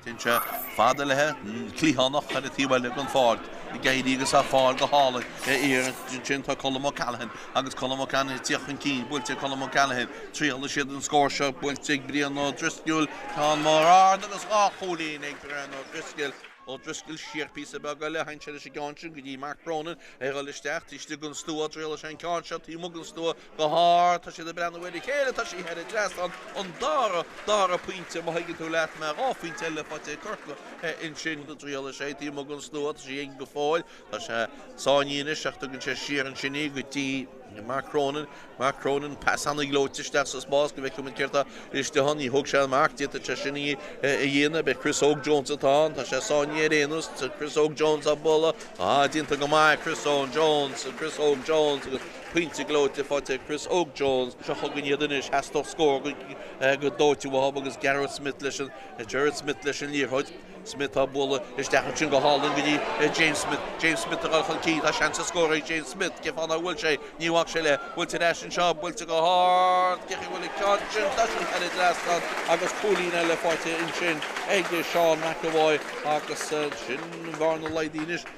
Since, fada leathchliathánach ar thaobh eile den pháirc ag éirí agus á fáil go hálainn ar iarraidh. Ansin tá Colm O'Callaghan agus Colm O'Callaghan ag tíocht chun cinn, buailte ag Colm O'Callaghan. Triailfidh siad an scór seo, buailte ag Brian Ó Drisceoil, ceann mór ard agus dhá chúilín ag Brian Ó Drisceoil. Ó Drisceoil siar píosa beag eile, tháinig sé leis an gceann sin go dtí Mark Cronin, ag dul isteach taobh istigh den stua, triailfidh sé an ceann seo taobh amuigh den stua, Go hard, tá siad ag breathnú ar a chéile, tá sí thar an trasnán, an dara, dara pointe, má thuigeann tú leat mé, dhá phointe eile faighte ag Corcaigh ansin go triail is é, díomá don slua, tá sí aige go fóill, tá sé sáinnithe anois ach tugann sé siar ansin í go dtí Mark Cronin, Mark Cronin, pas an-ghleoite isteach sa spás go bhfeicfimid céard atá istigh ann, níor thóg sé an marc di, tuigeann sé sin í a dhéanamh, b'é Chris Óg Jones atá ann, tá sé sáinnithe ar aon nós, tá Chris Óg Jones á bualadh, déanta go maith, Chris Óg Jones, Chris Óg Jones, agus. Pointe gleoite faighte ag Chris Óg Jones. Seo chugainn iad anois. Theastódh scór go dóite uathub agus Gareth Smith leis an, Gerard Smith leis an liathróid. Smith á bualadh isteach ansin go hálainn go dtí James Smith. James Smith ag dul chun cinn. Tá seans ar scór ag James Smith. Cén fáth ná bhfuil sé? Níor bhac sé leis. Buailte ar ais anseo. Buailte go hard. Cá bhfuil ag teacht ansin? Tá sí thar an dtrasnán agus cúilín eile faighte ansin ag Seán McEvoy agus an bhearna laghdaithe anois.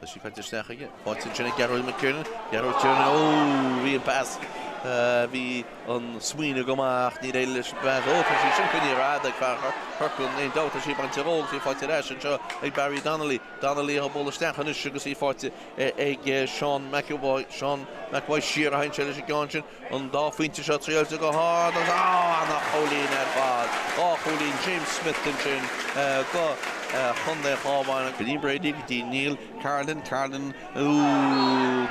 Tá sí caite isteach aige. Faighte ansin ag Gearóid Mac Thiarnáin. Gearóid Mac Thiarnáin Ó! Bhí an pas. Bhí an smaoineamh go maith ach níor éirigh leis an bpas. Ó! Tá sí sin faoin aer fhada ag Fearghar. Corcaigh. Aon dabht tá sí ag baint ar ól. Is í faighte ar ais anseo ag Barry Donnelly. Donnelly á bualadh isteach anois agus í faighte ag Seán McEvoy. Seán McEvoy siar a tháinig sé leis an gceann sin. an dá phointe seo triailte go hard agus an-chúilín ar fad. Dhá chúilín James Smith ansin do Chontae an Chabháin. Killian Brady go dtí Niall Carolan, Carolan,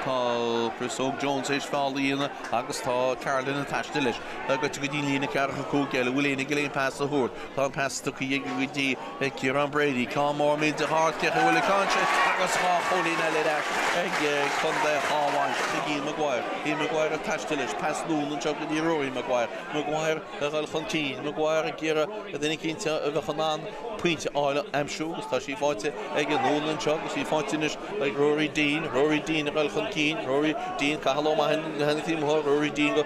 tá Chris Óg Jones éis feall a dhéanamh agus tá Carolan ag taisteal leis. Tá goite go dtí an líne ceathracha cúig eile, bhfuil éinne aige leis an bpas a thabhairt? Tá an pas tugtha aige go dtí ag Ciarán Brady. Ceann mór millteach ard, cá bhfuil an ceann seo agus dhá chúilín eile in airde ag Contae an Chabháin ag Ian Maguire. Ian Maguire ag taisteal leis. Pas anonn anseo go dtí Rory Maguire. Maguire ag dul chun cinn. Maguire ag iarraidh duine eicínt a bheadh in ann pointe a fháil, a aimsiú agus tá sí faighte aige, anonn anseo agus í faighte anois ag Rory Deane. Rory Deane ag dul chun cinn. Rory Deane, Cathail O'Mahony, Rory Deane go.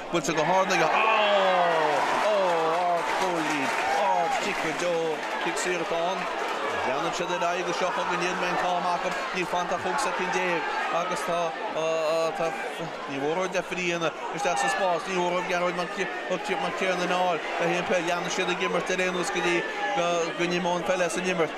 Buailte go hard aige. Ó! Ó! Ardchúilín! Ardchiceadóir! Ó! Cic saor atá ann. Leanfaidh siad ar aghaidh go seo chugainn. Níl an t-am acu. Níl fanta ach cúig soicind déag agus tá, tá, ní mór dóibh deifriú isteach sa spás. Ní mór dóibh Gearóid Mac Thiarnáin a fháil le haon pheil. Leanfaidh siad ag imirt ar aon nós go dtí go n-imeoidh an pheil as an imirt.